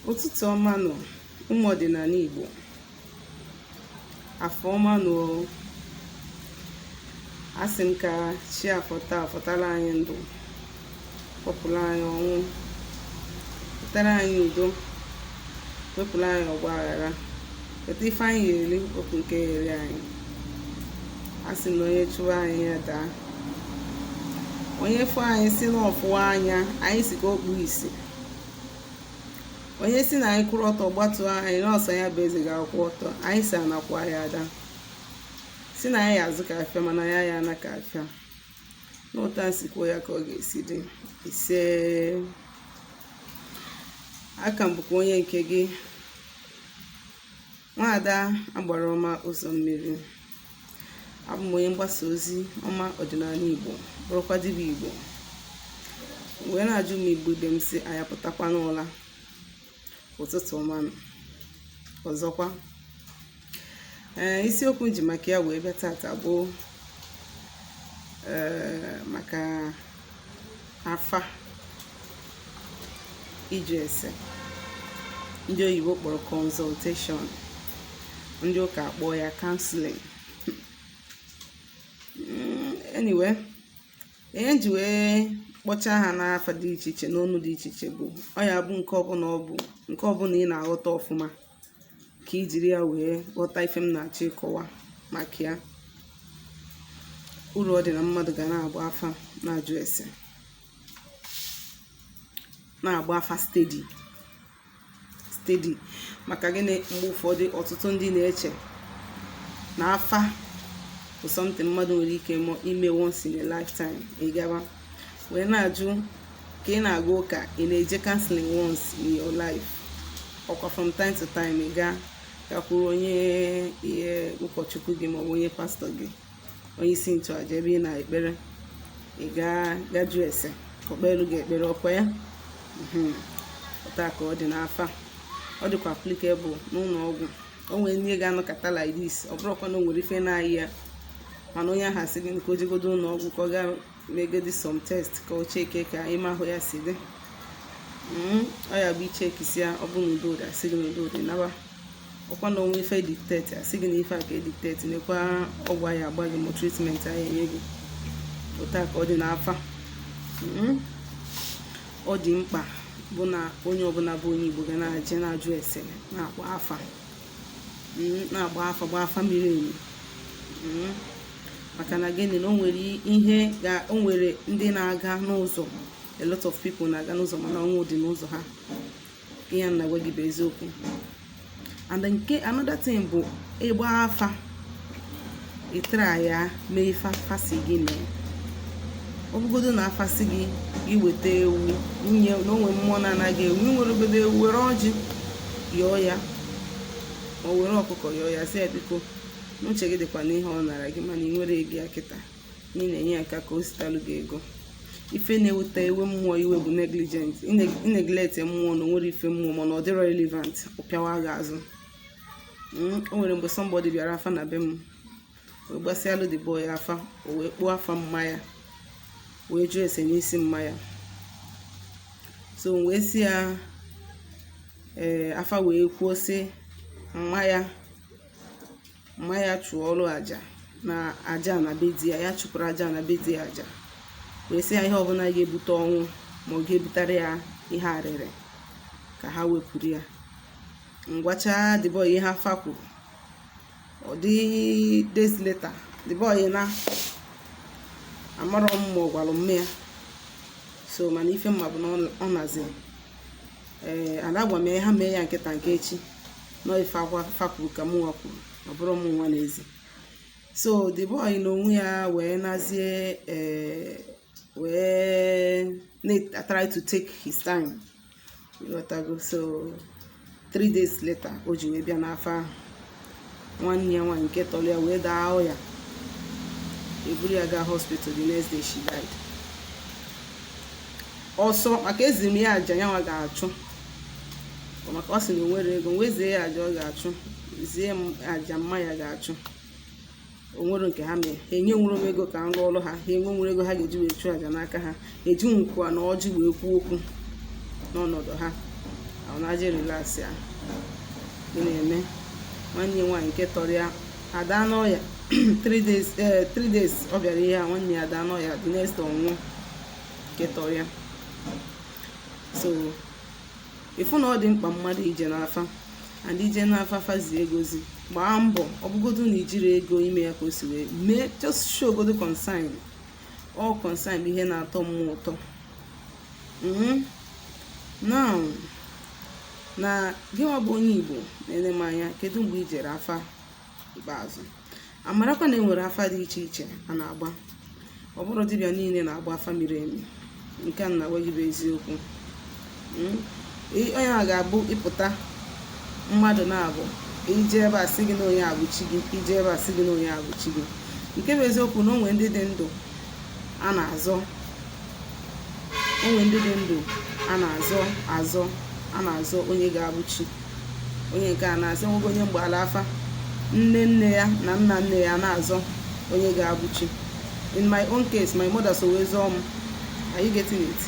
ụtụtụ ọma nụ ụmụ ọdịnala Igbo afọ ọma nụ asị m ka chi afọta afọtara anyị ndụ kpọpụrụ anyị ọnwụ wetara anyị udo wepụrụ anyị ọgba aghara weta ife anyị ga-eri wepụ nke ya-eri anyị a sị na onye chụwa anyị ya daa onye fụ anyị sị na ọ fụwa anya anyị sị ka o kpuo isi onye sị na anyị kwụrụ ọtọ gbatuo anyị na ọ sọ ya bụ eze ga-akwụ ọtọ anyị sị ana kwaa ya ada sị na anyị ya-azụ ka afịa mana anyị aya ana ka afịa n'ụta m si kwuo ya ka ọ ga-esi dị ise aka m bụkwa onye nke gị nwaada agbara ọma ụzọ mmiri abụ m onye mgbasa ozi ọma ọdịnala igbo bụrụkwa dibịa igbo wee na-ajụ ụmụ igbo ibe m sị anyị apụtakwa n'ụla ụtụtụ ọma nụ ọzọkwa ee isiokwu m ji maka ya wee bịa tata bụ ee maka afa ịjụ ese ndị oyibo kpọrọ consultation ndị ụka akpọọ ya counseling mm, anyway ihe m ji wee kpọchaa ha n'afa dị iche iche n'ọnụ dị iche iche bụ ọ ya bụ nke ọbụla ọ bụ nke ọbụla ị na-aghọta ọfụma ka i jiri ya wee ghọta ife m na-achọ ịkọwa maka ya uru ọ dị na mmadụ ga na-agba afa na-ajụ ese na-agba afa steady steady maka gịnị mgbe ụfọdụ ọtụtụ ndị na-eche na afa bụ something mmadụ nwere ike ime once in a lifetime ị gaba wee na-ajụ ka ị na-aga ụka ị na-eje counseling once in your life ọkwa from time to time ị gaa gakwuru onye ihe ụkọchukwu gị maọbụ onye pastor gị onye isi nchụaja ebe ị na-ekpere ị gaa ga jụọ ese ka o kpeelu gị ekpere ọkwa ya mhm. ụta ka ọ dị n'afa ọ dịkwa applicable n'ụlọ ọgwụ o nwere ndị ga-anọkọta like this ọ bụrọkwa na o nwere ife na-arịa ya mana onye ahụ asị gị ka o jegodo ụlọ ọgwụ ka ọ gaa megodi some test ka o cheke ka ime ahụ ya si dị hmm, ọ ya bụ e chekisịa ya ọ bụ na udo dị a sị gị na udo dị naba ọkwa na o nwee ife e detect asị gị na ife a ka e detect nekwa ọgwụ a ya-agba gị ma treatment a ya-enye gị ụta ka ọ dị n'afa hmm, ọ dị mkpa bụ na onye ọbụla bụ onye igbo ga na-aje na-ajụ ese na-agba afa na-agba afa gba afa miri emi hmm. maka na gịnị na o nwere ihe ga o nwere ndị na-aga n'ụzọ a lot of people na-aga n'ụzọ mana ọnwụ dị n'ụzọ ha ihe m na-agwa gị bụ eziokwu and nke another thing bụ ịgba afa ị try-a mee ife afa sị gị mee ọ bụgodo na afa sị gị gị weta ewu nwunye na o nwere mmụọ na-ana gị ewu i nwerọgodu ewu were ọjị yọọ ya ma ọ were ọkụkọ yọọ ya sị ya biko n'uche gị dịkwa n'ihe ọ nara gị mana i nwerọ ego ya kịta na ị na-enye ya aka ka o sitalụ gị ego ife na-eweta ewe mmụọ iwe bụ negligent i neglect mmụọ na o nwerọ ife mmụọ ma na ọ dịrọ relevant ọ pịawa gị azụ hmm, o nwere mgbe somebody bịara afa na be m wee gbasịalụ the boy afa o wee kpọọ afa mma ya wee jụọ ese n'isi mma ya so m wee sị ya ee eh, afa wee kwuo sị mma ya mma ya chụọrụ aja na aja na be di ya ya chụpụrụ aja na be di ya aja wee sị ya ihe ọbụla ga-ebute ọnwụ ma ọ ga-ebutere ya ihe arịrị ka ha wepụrụ ya m gwacha the boy ihe afa kwuru ọ dị days later the boy ihe na amarọ m ma ọ gwara mma ya so mana ife m ma bụ na ọ nazi ee eh, ada gwa m ya ha mee ya nke taa nke echi na ọ ife afa kwuru ka mụnwa kwuru ọ bụrọ mụnwa na-ezi so the boy na onwe ya wee nazie ee eh, wee na-try to take his time ị ghọtago so three days later o ji wee bịa n'afa ahụ nwanne ya nwaanyị nke tọrọ ya wee daa ọya eburu ya gaa hospital the next day she died ọ sọ maka eziri m ya aja ya nwa ga-achụ maka ọ sị na o nwerọ ego m wee zie ya aja ọ ga-achụ zie m aja mma ya ga-achụ o nwerọ nke ha mere ha enwerọ ego ka m ọrụ ha ha enwerọ ego ha ga-eji wee chụọ aja n'aka ha eji nkwa na ọjị wee kwuo okwu n'ọnọdụ ha ọ na-eje relax a ị na-eme nwanne ya nwaanyị nke tọrọ ya ada n'ọya 3 days eh, days ọ bịara ihe a nwanne ya ada n'ọya the next ọ nwụọ nke tọrọ ya so ị fụ na ọ dị mkpa mmadụ ije n'afa and i je n'afa afa zie gị ozi gbaa mbọ ọ bụgodu na i jirọ ego ime ya ka o si wee mee just show godu concern all concern bụ ihe na-atọ mmụọ ụtọ mm-hmm. now na gịnwa bụ onye igbo na-ene m anya kedu mgbe i jere afa ikpeazụ amarakwa na e nwere afa dị iche iche a na-agba ọ bụrọ dibịa niile na-agba afa miri emi nke a m na-agwa gị bụ eziokwu hmm? onye a ga-abụ ị pụta mmadụ na-abụ i je ebe a sị gị na onye a bụ chi gị i je ebe a sị gị na onye a bụ chi gị nke bụ eziokwu na o nwere ndị dị ndụ a na-azọ o nwere ndị dị ndụ a na-azọ azọ a na-azọ onye ga-abụ chi onye nke a na-azọ nwoke onye m gbaala afa nne nne ya na nna nne ya na-azọ onye ga-abụ chi in my own case my mother so wee zọọ m are you getting it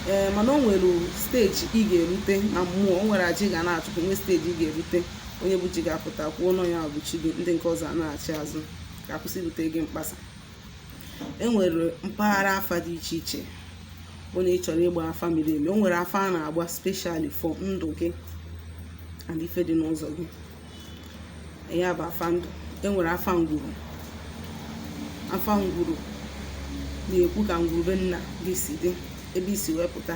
ee eh, mana o nwere steji ị ga-erute na mmụọ o nwere aja ị ga na-achụpụ nwee steji ị ga-erute onye bụ chi gị apụta kwuo na ọ nya bụ chi gị ndị nke ọzọ na-achị azụ ka a kwụsị ibute gị mkpasa e nwere mpaghara afa dị iche iche bụ na ị chọrọ ịgba afa miri emi o nwere afa a na-agba specially for ndụ gị and ife dị n'ụzọ gị ya bụ afa ndụ e nwere afa ngwuru afa ngwuru na-ekwu ka ngwuru be nna gị si dị ebe i si wee pụta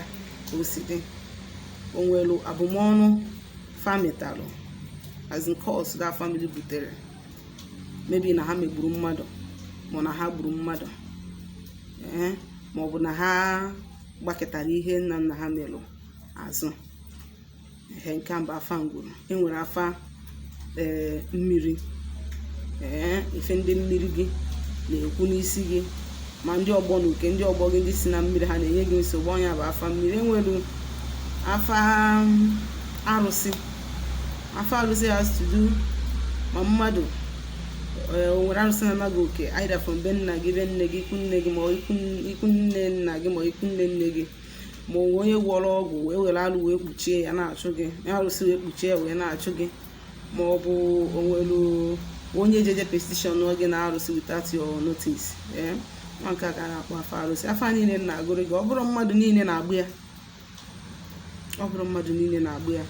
ka o si dị o nwere abụmọnụ fa metalụ as in curse that family butere maybe na ha megburu mmadụ ma na ha gburu mmadụ ee ma ọ bụ na ha gbakụtara ihe nna nna ha merụ azụ ihe nke m bụ afa ngwuru enwere afa ee mmiri ee ife ndị mmiri gị na-ekwu n'isi gị ma ndị ọgbọ na uke ndị ọgbọ gị ndị si na mmiri ha na-enye gị nsogbu ọ nya bụ afa mmiri enwere afa arụsị afa arụsị has to do ma mmadụ eh, o nwere arụsị na-ana gị oke either from be nna gị be nne gị ikwu nne gị ma ikwu nne nna gị ma ikwu nne nne gị ma o nwere onye gwọrọ ọgwụ wee were alụ wee kpuchie ya na-achụ gị arụsị wee kpuchie ya wee na-achụ gị ma ọ bụ o nwere onye je je petitionụọ gị na arụsị without your notice eh? nwa nke a ka a na-akpọ afa arụsị afa niile m na-agụrụ gị ọ bụrọ mmadụ niile na-agba ya ọ bụrọ mmadụ niile na-agba ya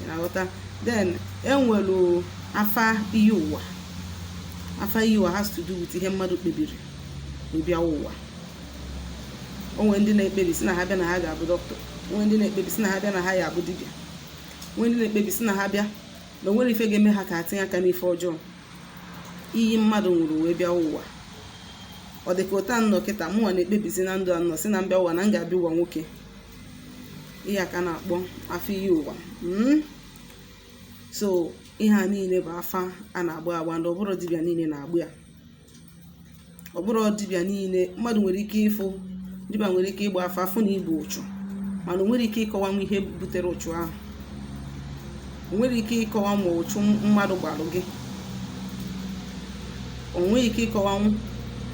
ị na-aghọta then enwere afa iyi ụwa afa iyi ụwa has to do with ihe mmadụ kpebiri ịbịa ụwa o nwere ndị na-ekpebi sị na ha bịa na ha ga-abụ dọkịta o nwere ndị na-ekpebi sị na ha bịa na ha ya-abụ dibịa o nwere ndị na-ekpebi sị na ha bịa na o nwere ife ga-eme ha ka ha tinye aka n'ife ọjọọ iyi mmadụ ṅụrụ wee bịa ụwa ọ dị ka otu a m nọ kịta mụnwa na-ekpebizi na ndụ a m nọ sị na m bịa ụwa na m ga-abịa ụwa nwoke ihe a ka a na-akpọ afa iyi ụwa hmm? so ihe a niile bụ afa a na-agba agba and ọ bụrọ dibịa niile na-agba ya ọ bụrọ dibịa niile mmadụ nwere ike ịfụ dibịa nwere ike ịgba afa afụ na ibu ụchụ mana o nwerọ ike ịkọwanwu ihe butere ụchụ ahụ o nwerọ ike ịkọwa ma ụchụ mmadụ gbalụ gị o nwerọ ike ịkọwanwu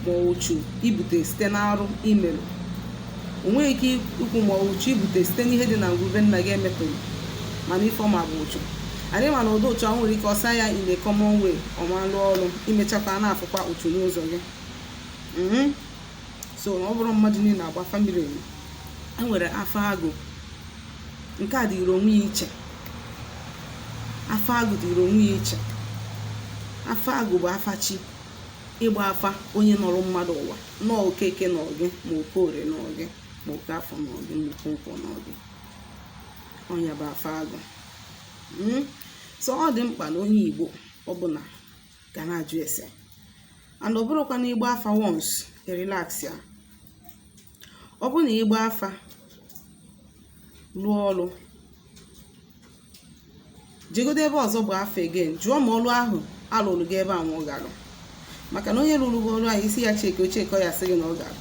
ma ụchụ ibute site n'arụ imerụ o nwerọ ike ikwu ma ụchụ ibute site n'ihe dị na ngwuru be nna gị emetụrụ mana ife ọ ma bụ ụchụ anyị ma na ụdị ụchụ ahụ nwere ike ọ sa ya in a common way ọ ma alụ ọrụ imechakwa na-afụkwa ụchụ n'ụzọ gị Mhm. so ọ bụrọ mmadụ niile na-agba afa mili emi e nwere afa agụ nke a dịrị onwe ya iche afa agụ dịrị onwe ya iche afa agụ bụ afa chi ịgba afa onye nọrọ mmadụ ụwa nọọ okeke nọ gị ma okorie nọ gị ma okafọ nọ gị ma okonkwo nọ gị ọ nya bụ afa agụ hmm? so ọ dị mkpa na onye igbo ọbụla ga na-ajụ ese and ọ bụrọkwa na ịgba afa once relax ya ọ bụ na ịgba afa lụọ ọlụ jegodo ebe ọzọ bụ afa again jụọ ma ọlụ ahụ alụrụ gị ebe a nwa ọ maka na onye rụrụ gị ọrụ ahụ ị sị ya checkie o checkie ọ ya-asị gị na ọ gara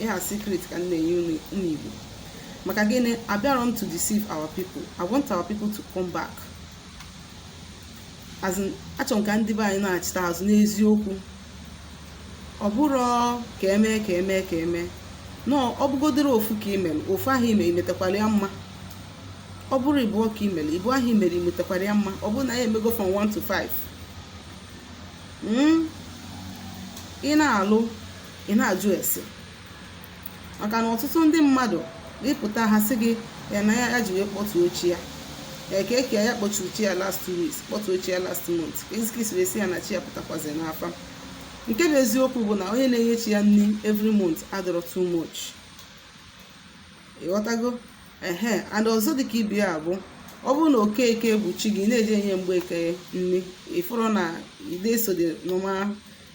ihe a secret ka m na-enye unu ụmụ igbo maka gịnị abịarọ m to deceive our people i want our people to come back as in achọrọ m ka ndị be anyị nachita azụ n'eziokwu ọ bụrọ ka emee ka emee ka emee na ọ bụgodoro ofu ka imere ofu ahụ ime imetakwara ya mma ọ bụrụ ibụọ ka imere ibụọ ahụ imere imetakwara ya mma ọ bụrụ na ya emego from 1 to 5 hmm? ị na-alụ ị na-ajụ ese maka na ọtụtụ ndị mmadụ ịpụta ha sị gị ya na ya ji wee kpọtuo chi ya eke eke ya kpọturu chi ya last two weeks kpọtuo chi ya last month kezi ka isi wee sị ya na chi ya pụtakwazi n'afa nke bụ eziokwu bụ na onye na-enye chi ya nri every month adịrọ too much ịghọtago ehe and ọzọ dịka ibe ya bụ ọ bụrụ na okeke bụ chi gị na-eje enye mgbeke nri ịfụrụ na ị da eso the normal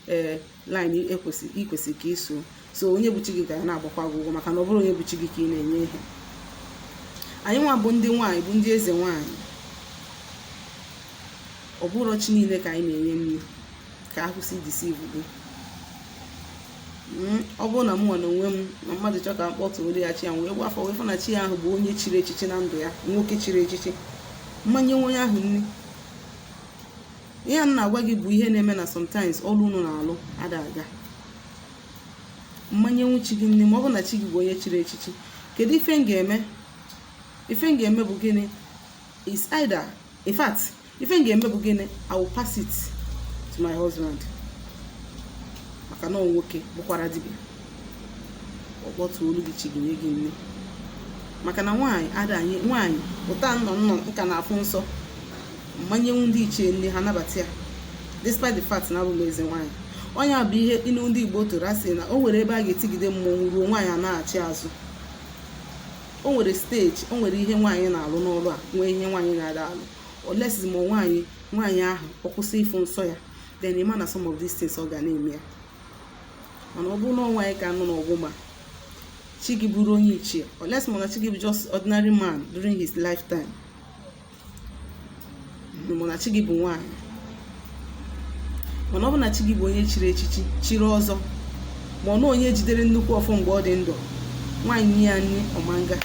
ee eh, line ikwesị ikwesị ka iso so onye bụ chi gị ga na-agbakwa gị ụgwọ maka na ọ bụrọ onye bụ chi gị ka ị na-enye ihe anyị nwa bụ ndị nwaanyị bụ ndị eze nwaanyị ọ bụrọ chi niile ka anyị na-enye nri ka akwụsị deceive gị hmm, ọ bụrụ na mụnwa na onwe m na mmadụ chọọ ka m kpọtụrụ ya chi ya wee gba afa wee fụ na chi ya ahụ bụ onye chiri echichi na ndụ ya nwoke chiri echichi m ma enyenwu onye ahụ nni ihe a m na-agwa gị bụ ihe na-eme na sometimes ọrụ unu na-alụ ada aga m ma enyenwu chi gị nni ma ọ bụ na chi gị bụ onye chiri echichi kedu ife m ga-eme ife m ga-eme bụ gịnị is either in fact ife m ga-eme bụ gịnị I will pass it to my husband maka na nwoke bụkwara dibịa ọ kpọtụọlụ gị chi gị nye gị nni maka na nwaanyị ada enye nwaanyị ụta nnọ nnọ nka na-afụ nsọ ama enyenwu ndị ichie nni ha nabata ya despite the fact na abụ m eze nwaanyị ọ nya bụ ihe inu ndị Igbo tụrụ asị na o nwere ebe a ga-etigide mmọnwụ ruo nwaanyị anaachi azụ o nwere steji o nwere ihe nwaanyị na-alụ n'ọlụ a nwee ihe nwaanyị na-ada alụ unless ma nwaanyị nwaanyị ahụ ọ kwụsị ịfụ nsọ ya then ị ma na some of these things ọ ga na-eme ya mana ọ bụrụ na nwaanyị ka nọ n'ọgbọ ma chi gị bụrụ onye ichie unless ma na chi gị bụ just ordinary man during his lifetime ma na chi gị bụ nwaanyị mana ọ bụ na chi gị bụ onye chiri echichi chiri ọzọ ma ọ na onye jidere nnukwu ọfọ mgbe ọ dị ndụ nwaanyị nye ya nri ọ ma aga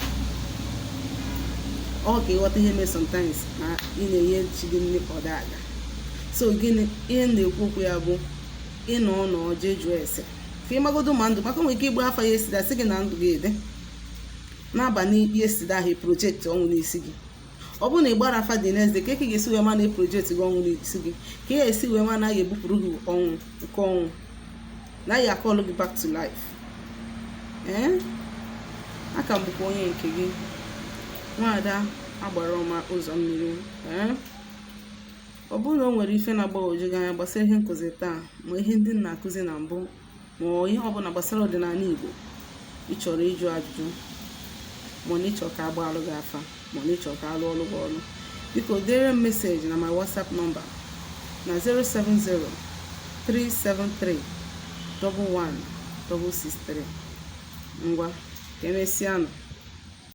ọ kwa ị ghọta ihe mee sometimes na ị na-enye chi gị nri ọ da aga so gịnị ihe m na-ekwu okwu ya bụ ị nọọ nọọ jee jụọ ese ka ị magodo ma ndụ maka o nwere ike ịgba afa yesterday sị gị na ndụ gị dị n'abalị yesterday ahụ project ọnwụ n'isi gị ọ bụrụ na ị gbara afa the next day kee ka ị ga-esi wee ma na e project gị ọnwụ n'isi gị ka ị ga-esi wee ma na a ga-ebupụrụ gị ọnwụ uke ọnwụ na ya akọlụ gị back to life ee eh? a ka m bụkwa onye nke gị nwaada agbara ọma ụzọ mmiri ee eh? ọ bụrụ na o nwere ife na-agbagwoju gị anya gbasara ihe nkụzi taa ma ihe ndị m na-akụzi na mbụ ma ihe ọbụla gbasara ọdịnala Igbo ị chọrọ ịjụ ajụjụ ma na ị chọọ ka a gbaalụ gị afa ma na ị chọọ ka a lụọlụ gị ọlụ biko deere m meseji na my WhatsApp nọmba na 070 373 11 163 ngwa ka emesịa nụ